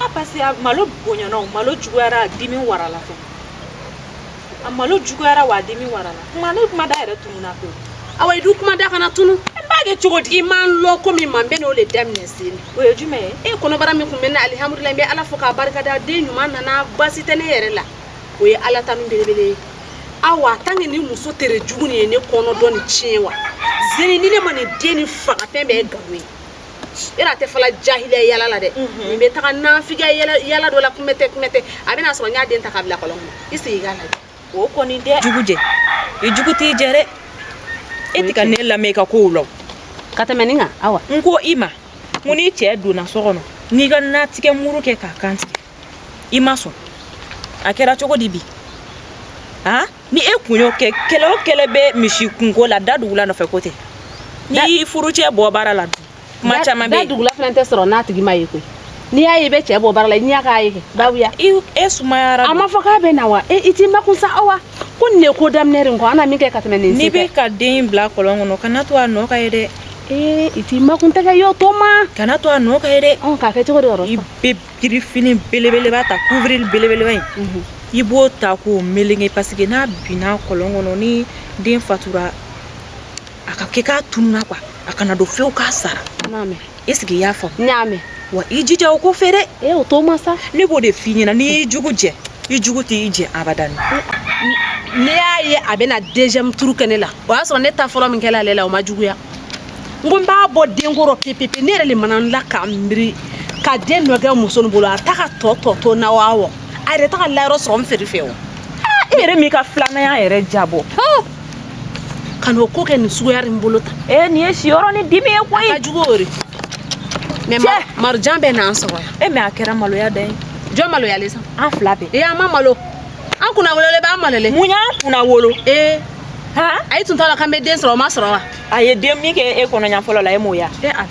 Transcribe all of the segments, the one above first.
A parce que malo bonyana o malo juguyara dimi warala fɛ a malo juguyara wa dimi warala kuma ne kuma da yɛrɛ tununa ko awa i dun kuma da kana tunu n b'a kɛ cogo di i m'a lɔn ko min man bɛ n'o de daminɛ sen o ye jumɛn ye e kɔnɔbara min tun bɛ n na alihamudulila n bɛ ala fo k'a barikada den ɲuman nana baasi tɛ ne yɛrɛ la o ye ala tanu belebele ye awa tant que ni muso tere jugu nin ye ne kɔnɔ dɔ nin tiɲɛ wa zeni ni ne ma nin den nin faga fɛn bɛɛ ye gawo ye yɛrɛ a tɛ fɔla jahiliya yala la dɛ min bɛ taga nafigiya yala dɔ la kumɛtɛ kumɛtɛ a bɛna sɔrɔ n y'a den ta k'a bila kɔlɔn kɔnɔ i sigi k'a lajɛ o kɔni n'i y'i jugu jɛ i jugu t'i jɛ dɛ e tɛ ka ne lamɛn i ka kow la ka tɛmɛ nin kan awa n ko i ma mun n'i cɛ donna so kɔnɔ n'i ka natigɛ muru kɛ k'a kantigɛ i ma sɔn a kɛra cogo di bi han ni e kun y'o kɛ kɛlɛ o kɛlɛ bɛ misi kunkolo la dadugula nɔfɛ ko tɛ ni furucɛ bɔ baara la dun kuma caman bɛ yen dadugula fana tɛ sɔrɔ n'a tigi ma ye koyi n'i y'a ye i bɛ cɛ bɔ baara la i ɲɛ k'a ye kɛ babuya e sumayara a ma fɔ k'a bɛ na wa e i t'i makun sa awa ko nin de ko daminɛ de kɔ an na min kɛ ka tɛmɛ nin n'i bɛ ka den bila kɔlɔn kɔnɔ kana to a nɔ ka ye dɛ ee i t'i makun dɛ k'i y'o to n ma kana to a nɔ ka ye dɛ ka kɛ cogo di yɔrɔ i bɛ Kirifini belebeleba ta kuwirili belebeleba in i b'o ta k'o melege parce que n'a binna kɔlɔn kɔnɔ ni den fatura a ka kɛ k'a tununa quoi a kana dɔn fewu k'a sara n y'a mɛn est-ce que i y'a faamu n y'a mɛn wa i jija o ko fɛ dɛ ee o to n ma sa ne b'o de f'i ɲɛna n'i y'i jugu jɛ i jugu t'i jɛ abadani ne y'a ye a bɛna deuxième tour kɛ ne la o y'a sɔrɔ ne ta fɔlɔ min kɛla ale la o ma juguya n ko n b'a bɔ den kɔrɔ pepepe ne yɛrɛ le mana n la ka n miiri ka den dɔ kɛ muso nin bolo a ta ka tɔ tɔ to na wa wa a yɛrɛ ta ka layɔrɔ sɔrɔ n feere fɛ o e yɛrɛ m'i ka filananya yɛrɛ jabɔ ka n'o ko kɛ nin suguya nin bolo ta ee nin ye siyɔrɔ ni dimi ye koyi a ka jugu o de mɛ ma- Marijan bɛ n'an sɔrɔ yan e mɛ a kɛra maloya dan ye jɔn maloyalen sa an fila bɛɛ ee an ma malo an kunnawololen b'an malolen mun y'an kunnawolo ee han ayi tun t'a la k'an bɛ den sɔrɔ o ma sɔrɔ wa a ye den min kɛ e kɔnɔ ɲa fɔlɔ la e m'o ye e ala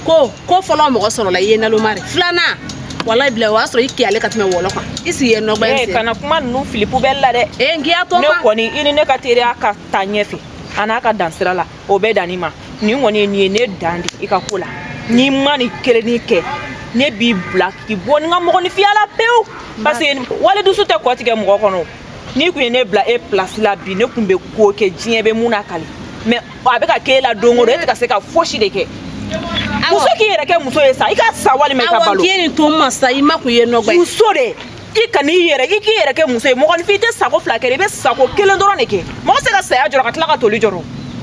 ko ko fɔlɔ mɔgɔ sɔrɔla i ye naloma de filanan walayi bila o y'a sɔrɔ i kiyalen ka tɛmɛ wɔlɔ kan i sigi yen nɔgba e sen kana kuma ninnu fili poubelle la dɛ ee n k'i y'a to n ma ne kɔni i ni ne ka teriya ka taa ɲɛfɛ a n'a ka dan sira la o bɛɛ dan nin ma nin kɔni ye nin ye ne dan di i ka ko la n'i ma nin kelennin kɛ ne b'i bila k'i bɔ ne ka mɔgɔninfinya la pewu parce que wali dusu tɛ kɔ tigɛ mɔgɔ kɔnɔ n'i kun ye ne bila e place la bi ne kun bɛ ko kɛ diɲɛ bɛ min nakali mɛ a bɛ ka k'e la don o don e tɛ ka se ka fosi de kɛ muso k'i yɛrɛ kɛ muso ye sa i ka sa walima i ka balo awɔ k'i ye nin to n ma sa i ma kun ye nɔgɔ ye muso de i ka n'i yɛrɛ i k'i yɛrɛ kɛ muso ye mɔgɔninfin i tɛ sako fila kɛ i bɛ sako kelen dɔrɔn de kɛ mɔgɔ se ka saya jɔrɔ ka tila ka toli jɔrɔ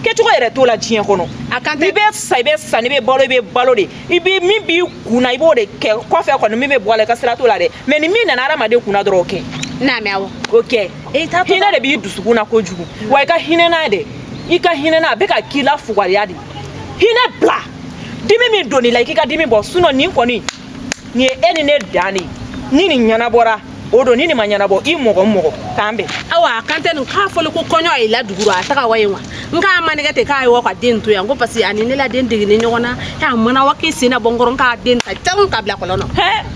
kɛcogo yɛrɛ t'o la diɲɛ kɔnɔ a kan tɛ i bɛ sa i bɛ sa n'i bɛ balo i bɛ balo de i bɛ min b'i kun na i b'o de kɛ kɔfɛ kɔni min bɛ bɔ a la i ka sira t'o la dɛ mɛ ni min nana hadamaden kunna dɔrɔn o kɛ n'a mɛ awɔ o kɛ hinɛ de b'i dusukun na kojugu wa i ka hinɛ n'a de i ka hinɛ n'a a bɛ ka k'i la fugariya de hinɛ bila dimi min donn'i la i k'i ka dimi bɔ sinɔn nin kɔni nin ye e ni ne dan de ye ni nin ɲɛnabɔra o don ni nin ma ɲɛnabɔ i mɔgɔ mɔgɔ k'an bɛn awa a kan tɛ nin k'a fɔli ko kɔɲɔ ye la dugu rɔ a taga wa yen wa n k'a manɛgɛ ten k'a ye wa ka den to yan ko parce que a ni ne la den degini ɲɔgɔn na a mana wa k'i sen na bɔ n kɔrɔ n k'a den ta tan ka bila kɔlɔn na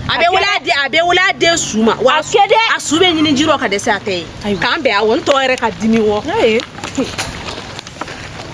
a bɛ wele a den a bɛ wele a den su ma wa a su dɛ a su bɛ ɲini ji rɔ ka dɛsɛ a tɛ ye k'an bɛn awɔ n tɔ yɛrɛ ka dimi wɔ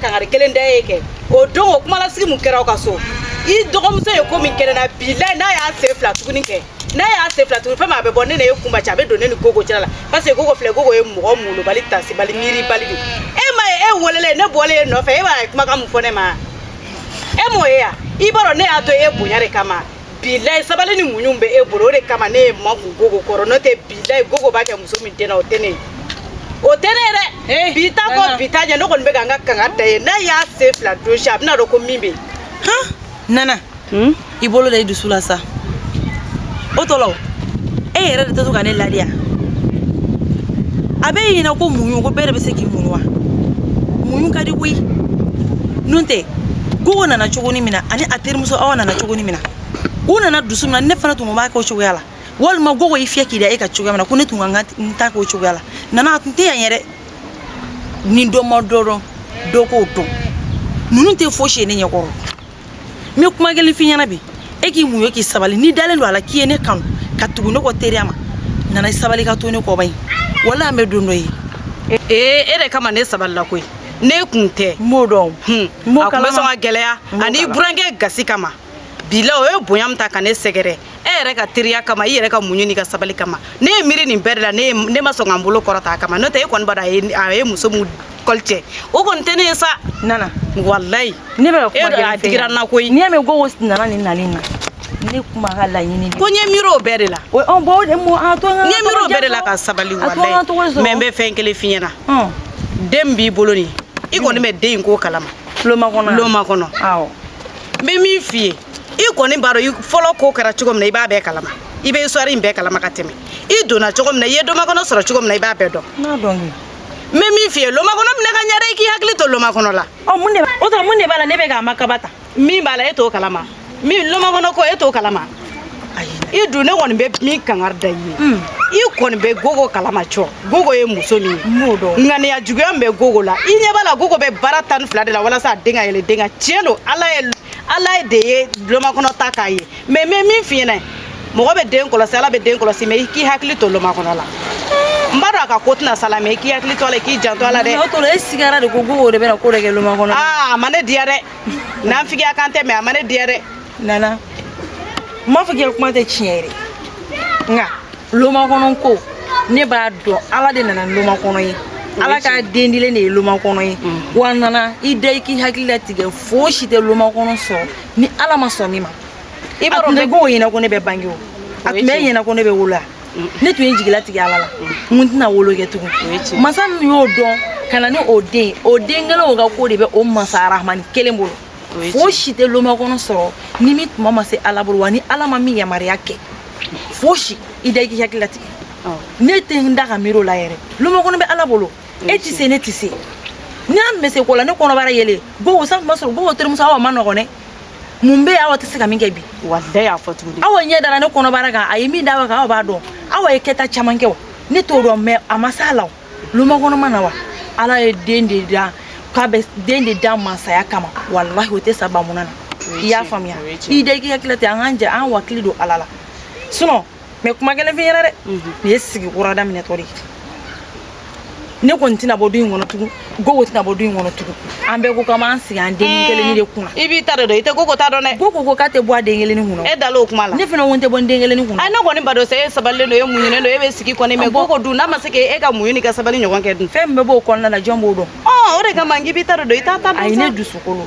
kangari kelen da e ye kɛ o don o kuma lasigi mun kɛra aw ka so i dɔgɔmuso ye ko min kɛ ne na bilayi n'a y'a sen fila tuguni kɛ n'a y'a sen fila tuguni fɛn min a bɛ bɔ ne ni e kunba cɛ a bɛ don ne ni gogo cɛla la parce que gogo filɛ gogo ye mɔgɔ malobali tasibali miiribali de e m'a ye e welelen ne bɔlen e nɔfɛ e ba ye kumakan mun fɔ ne ma e m'o ye yan i b'a dɔn ne y'a to e bonya de kama bilayi sabali ni muɲu bɛ e bolo o de kama ne ye n makun gogo kɔrɔ n'o tɛ bilayi gogo b'a kɛ muso min den na o tɛ ne ye o tɛ ne ye dɛ eh, bi ta kɔ bi ta ɲɛ ne kɔni bɛ ka n ka kangari d'a ye n'a y'a sen fila don si a bɛna dɔn ko min bɛ yen nana hmm? i bolo da i dusu la sa o tɔ la e yɛrɛ de tɛ to ka ne ladiya a bɛ ɲinɛ ko muɲu ko bɛɛ de bɛ se k'i muɲu wa muɲu ka di koyi n'o tɛ gogo nana cogoni min na ani a terimuso awa nana cogoni min na u nana dusu min na ne fana tun ko b'a kɛ o cogoya la walima gogo y'i fiyɛ k'i da e kan cogoya min na ko ne tun ka n ta k'o cogoya la nana a tun tɛ yan yɛrɛ ni dɔ ma dɔ dɔn dɔ k'o dɔn ninnu tɛ fosi ye ne ɲɛkɔrɔ n bɛ kuma kelen f'i ɲɛna bi e k'i muɲu k'i sabali n'i dalen don a la k'i ye ne kanu ka tugu ne kɔ teriya ma nana i sabali k'a to ne kɔba ye walayi an bɛ don dɔ ye ee e de kama ne sabalila koyi n'e kun tɛ n b'o dɔn a kun bɛ sɔn ka gɛlɛya ani burankɛ gasi kama bilayi o ye bonya min ta ka ne sɛgɛrɛ e yɛrɛ ka teriya kama i yɛrɛ ka muɲu n'i ka sabali kama ne ye miiri nin bɛɛ de la ne ma sɔn ka n bolo kɔrɔta a kama n'o tɛ e kɔni b'a dɔn a ye muso min kɔli cɛ o kɔni tɛ ne ye sa nana walayi ne bɛ ka kuma e a digira n na koyi n'i y'a mɛn gogo nana nin nalen na ne kuma ka laɲini ko n ye miiri o bɛɛ de la o ɔn bɔn o de mo a to an ka n ye miiri o bɛɛ de la ka sabali walayi mɛ n bɛ fɛn kelen f'i ɲɛna den b'i bolo nin i kɔni bɛ den in ko kalama loma kɔnɔ loma kɔnɔ awɔ n bɛ min f'i ye i kɔni b'a dɔn fɔlɔ ko kɛra cogo min na i b'a bɛɛ kalama i bɛ histoire in bɛɛ kalama ka tɛmɛ i donna cogo min na i ye lomakɔnɔ sɔrɔ cogo min na i b'a bɛɛ dɔn n'a dɔn kɛ n bɛ min f'i ye lomakɔnɔ minɛ ka ɲɛ dɛ i k'i hakili to lomakɔnɔ la ɔ mun de o tuma mun de b'a la ne bɛ k'a ma kaba ta min b'a la e t'o kalama min lomakɔnɔ ko e t'o kalama i dun ne kɔni bɛ min kangari da i ye hmm. i kɔni bɛ gogo kalama cɔ gogo ye muso min ye ŋaniya juguya min bɛ gogo la i ɲɛ b'a la gogo bɛ baara tan ni fila de la walasa a den ka yɛlɛ den kan tiɲɛ don ala ye ala ye de ye lomakɔnɔ ta k'a ye mais n bɛ min f'i ɲɛna mɔgɔ bɛ den kɔlɔsi ala bɛ den kɔlɔsi mais i k'i hakili to lomakɔnɔ la n b'a dɔn a ka ko tɛna s'a la mais i k'i hakili to a la i k'i janto a la dɛ o kɔrɔ e sigara de ko gogo de bɛna ko dɔ kɛ lomakɔnɔ aa a ma ne diya dɛ naafigiya kan tɛ mais a ma ne diya dɛ nana n m'a fɔ k'i ka kuma tɛ tiɲɛ ye dɛ nka lomakɔnɔ ko ne b'a dɔn ala de nana ni lomakɔnɔ ye ala ka den dilen de ye lomakɔnɔ ye wa nana i da i k'i hakili latigɛ fosi tɛ lomakɔnɔ sɔrɔ ni ala ma sɔn min ma i b'a dɔn bɛ gogo ɲɛna ko ne bɛ bange o a tun b'e ɲɛna ko ne bɛ wolo ne tun ye jigi latigɛ ala la n ko tɛna wolo kɛ tugun masa min y'o dɔn ka na ni o den o den kelen o ka ko de bɛ o masa arahamani kelen bolo fosi tɛ lomakɔnɔ sɔrɔ ni min tuma ma se ala bolo wa ni ala ma min yamaruya kɛ fosi i da i k'i hakili latigɛ ne tɛ n da ka miiri o la yɛrɛ lomakɔnɔ bɛ ala bolo e tɛ se ne tɛ se n'a tun bɛ se ko la ne kɔnɔbara yɛlɛ gogo san tuma sɔrɔ gogo terimuso awa man nɔgɔn dɛ mun bɛ awa tɛ se ka min kɛ bi walayi y'a fɔ tuguni awa ɲɛ dara ne kɔnɔbara kan a ye min d'awa kan awa b'a dɔn awa ye kɛta caman kɛ o ne t'o dɔn mais a ma s'a la o lomakɔnɔ ma na wa ala ye den de da k'a bɛ den de da mansaya kama walahi o tɛ sa bamunan na i y'a faamuya i da i k'i hakili latigɛ an k'an jɛ an wakili don ala la sinon mais kuma kelen f'i ɲɛna dɛ mhm. nin ye sigi kura daminɛtɔ de ye ne kɔni tɛna bɔ du in kɔnɔ tugun gogo tɛna bɔ du in kɔnɔ tugun an bɛɛ ko k'an b'an sigi an den eh, kelenni de kunna i b'i ta de dɔn i tɛ gogo ta dɔn dɛ gogo ko k'a tɛ bɔ a den kelenni kunna e dal'o kuma la ne fana ko n tɛ bɔ n den kelenni kunna a ne kɔni b'a dɔn sa e sabalilen don e muɲunen don e bɛ sigi kɔni mais gogo dun n'a ma se k'e ka muɲu ni ka sabali ɲɔgɔn kɛ dun fɛn min bɛ b'o kɔnɔna na jɔn b'o dɔn ɔ o de kama n k'i b'i ta de dɔn i t'a ta dɔn sa ayi ne dusukolo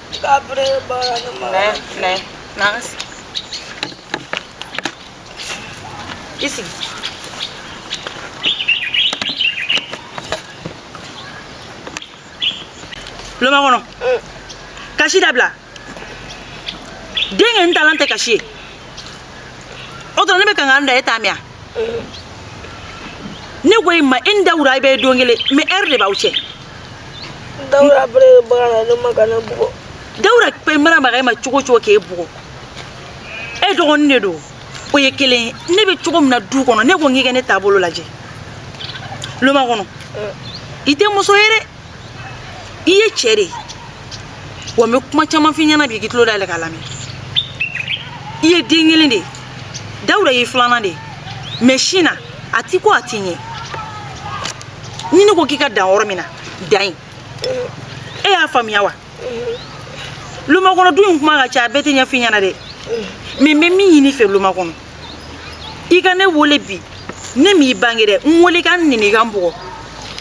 Kabre ba naman? Ne, ne. Nangas. I sigi. Lomakɔnɔ. Mm. Kasi dabila. Denkɛ taalan tɛ kasi ye. O dɔrɔn ne bɛ kangari da e t'a mɛn wa. Mm. Ne ko i ma e ni dawuda bɛɛ don kelen mais heure de b'aw cɛ. Dawuda bere bagan na ne ma ka ne bugɔ Dawuda pe mana baga i ma cogo cogo k'e bugɔ e dɔgɔnin de don o ye kelen ye ne bɛ cogo min na du kɔnɔ ne ko n k'i ka ne taabolo lajɛ lomakɔnɔ i tɛ muso ye dɛ i ye cɛ de ye wa n bɛ kuma caman f'i ɲɛna bi k'i tulo dayɛlɛ k'a lamɛn i ye den kelen de ye Dawuda y'i filanan de ye mɛ sin na a ti ko a ti ɲɛ ni ne ko k'i ka dan yɔrɔ min na dan yen e y'a faamuya wa lomakɔnɔ du in kuma ka ca a bɛɛ tɛ ɲɛf'i ɲɛna dɛ mɛ n bɛ min ɲini i fɛ lomakɔnɔ i ka ne wele bi ne m'i bange dɛ n wele ka n nɛni ka n bugɔ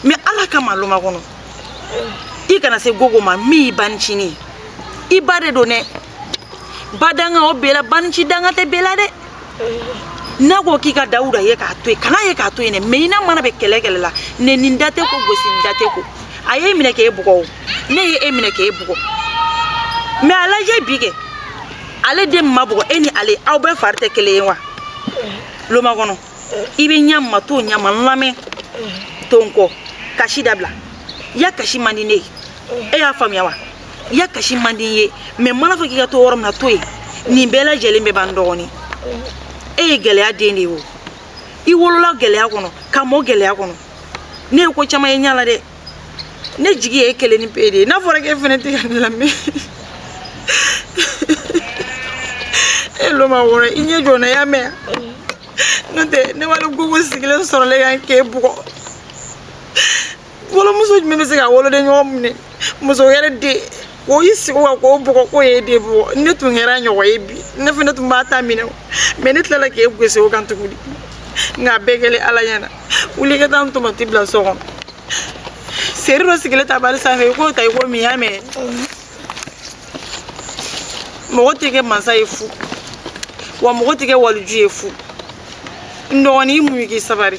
mɛ ala kama lomakɔnɔ i kana se gogo ma min y'i bancinin ye i ba de don dɛ badanga o bɛɛ la banci danga tɛ bɛɛ la dɛ n'a ko k'i ka dawuda ye k'a to yen kan'a ye k'a to yen dɛ mɛ i n'a mana bɛn kɛlɛ kɛlɛ la nɛni n da tɛ ko gosi n da tɛ ko a y'e minɛ k'e bugɔ o ne ye e minɛ k'e bugɔ mɛ a lajɛ bi kɛ ale den ma bugɔ e ni ale aw bɛɛ fari tɛ kelen ye wa lomakɔnɔ i bɛ ɲa min ma to o ɲa ma n lamɛn to n kɔ kasi dabila ya kasi man di ne ye e y'a faamuya wa ya kasi man di n ye mɛ n man'a fɔ k'i ka to yɔrɔ min na to yen nin bɛɛ lajɛlen bɛ ban n dɔgɔnin e ye gɛlɛya den de ye o i wolola gɛlɛya kɔnɔ ka mɔ gɛlɛya kɔnɔ ne ye ko caman ye n ɲa la dɛ ne jigi y'e kelennin pe de ye n'a fɔra k'e fɛnɛ tɛ ka ne lamɛn e lomakɔnɔ i ɲɛ jɔ n na y'a mɛn wa n'o tɛ ne wale gogo sigilen sɔrɔlen yan k'e bugɔ wolomuso jumɛn bɛ se ka woloden ɲɔgɔn minɛ muso wɛrɛ den k'o i sigi wa k'o bugɔ k'o y'e den bugɔ ni ne tun kɛra ɲɔgɔn ye bi ne fɛnɛ tun b'a ta minɛ mɛ ne tilala k'e gosi o kan tuguni nka a bɛɛ kɛlen ala ɲɛna wuli ka taa n tomati bila so kɔnɔ seri dɔ sigilen tabali sanfɛ i k'o ta i k'o min y'a mɛn mɔgɔ tɛ kɛ mansa ye fu wa mɔgɔ tɛ kɛ waliju ye fu n dɔgɔnin i muɲu k'i sabari